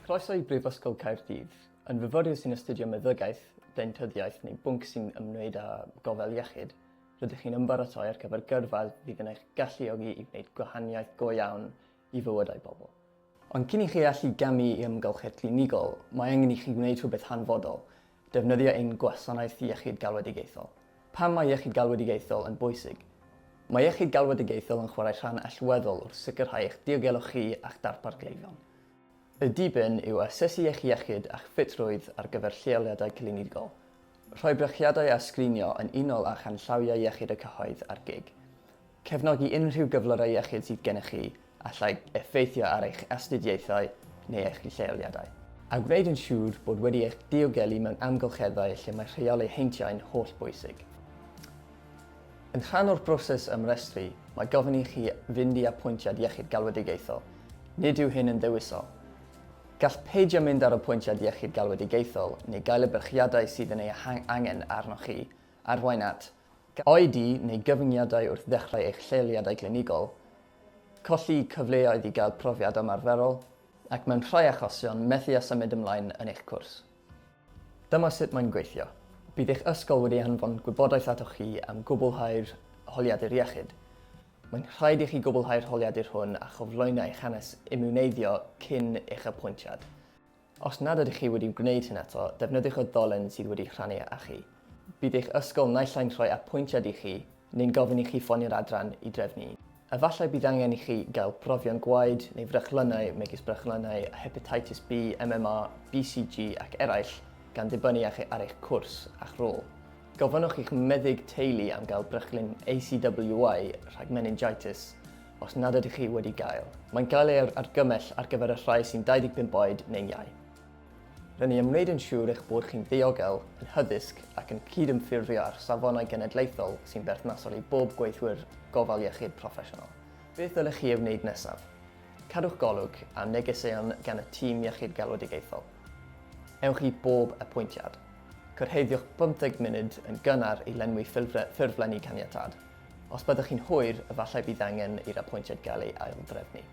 Croeso i Brifysgol Caerdydd. Yn fyfyriwr sy'n astudio meddygaeth, deintyddiaeth neu bwnc sy'n ymwneud â gofal iechyd, rydych chi'n ymbaratoi ar gyfer gyrfa fydd yn eich galluogi i wneud gwahaniaeth go iawn i fywydau pobl. Ond cyn i chi allu gamu i amgylchedd clinigol, mae angen i chi wneud rhywbeth hanfodol, Defnyddio ein gwasanaeth iechyd galwedigaethol. Pam mae iechyd galwedigaethol yn bwysig? Mae iechyd galwedigaethol yn chwarae rhan allweddol wrth sicrhau eich diogelwch chi a'ch darpar gleifion. Y diben yw asesu eich iechyd a'ch ffitrwydd ar gyfer lleoliadau clinigol, rhoi brechiadau a sgrinio yn unol â chanllawiau iechyd y cyhoedd a'r gig. Cefnogi unrhyw gyflyrau iechyd sydd gennych chi allai effeithio ar eich astudiaethau neu eich lleoliadau. A gwneud yn siŵr bod wedi eich diogelu mewn amgylcheddau lle mae rheoli heintiau'n hollbwysig. Yn rhan o'r broses ymrestru, mae gofyn i chi fynd i apwyntiad iechyd galwedigaethol. Nid yw hyn yn ddewisol. Gall peidio mynd ar apwyntiad iechyd galwedigaethol neu gael y byrchiadau sydd yn ei angen arnoch chi arwain at Oedi neu gyfyngiadau wrth ddechrau eich lleoliadau clinigol, colli cyfleoedd i gael profiad ymarferol, ac mewn rhai achosion, methu â symud ymlaen yn eich cwrs. Dyma sut mae'n gweithio. Bydd eich ysgol wedi anfon gwybodaeth atoch chi am gwblhau'r holiadur iechyd. Mae'n rhaid i chi gwblhau'r holiadur hwn a chyflwyno eich hanes imiwneiddio cyn eich apwyntiad. Os nad ydych chi wedi gwneud hyn eto, defnyddiwch y ddolen sydd wedi rhannu â chi. Bydd eich ysgol naill ai'n rhoi apwyntiad i chi neu'n gofyn i chi ffonio'r adran i drefnu un. Efallai bydd angen i chi gael profion gwaed neu frechlynnau megis brechlynnau a hepatitis B, MMA, BCG ac eraill, gan ddibynnu ar eich cwrs a'ch rôl. Gofynnwch i'ch meddyg teulu am gael brechlyn ACWY rhag meningitis, Os nad ydych chi wedi gael, mae'n cael ei argymell ar gyfer y rhai sy'n 25 oed neu'n iau. Rydyn ni am wneud yn siŵr eich bod chi'n ddiogel, yn hyddysg ac yn cydymffurfio â'r safonau genedlaethol sy'n berthnasol i bob gweithwyr gofal iechyd proffesiynol. Beth ddylech chi ei wneud nesaf? Cadwch golwg am negeseuon gan y Tîm Iechyd Galwedigaethol. Ewch i bob apwyntiad. Cyrhaeddiwch 50 munud yn gynnar i lenwi ffurflenni caniatâd. Os byddwch chi'n hwyr, efallai bydd angen i'r apwyntiad gael ei aildrefnu.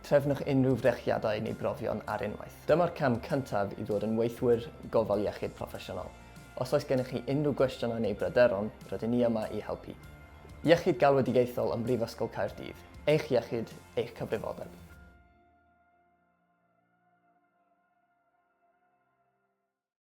Trefnwch unrhyw frechiadau neu brofion ar unwaith. Dyma'r cam cyntaf i ddod yn weithwyr gofal iechyd proffesiynol. Os oes gennych chi unrhyw gwestiynau neu bryderon, rydyn ni yma i helpu. Iechyd Galwedigaethol ym Mhrifysgol Caerdydd, eich iechyd, eich cyfrifoldeb.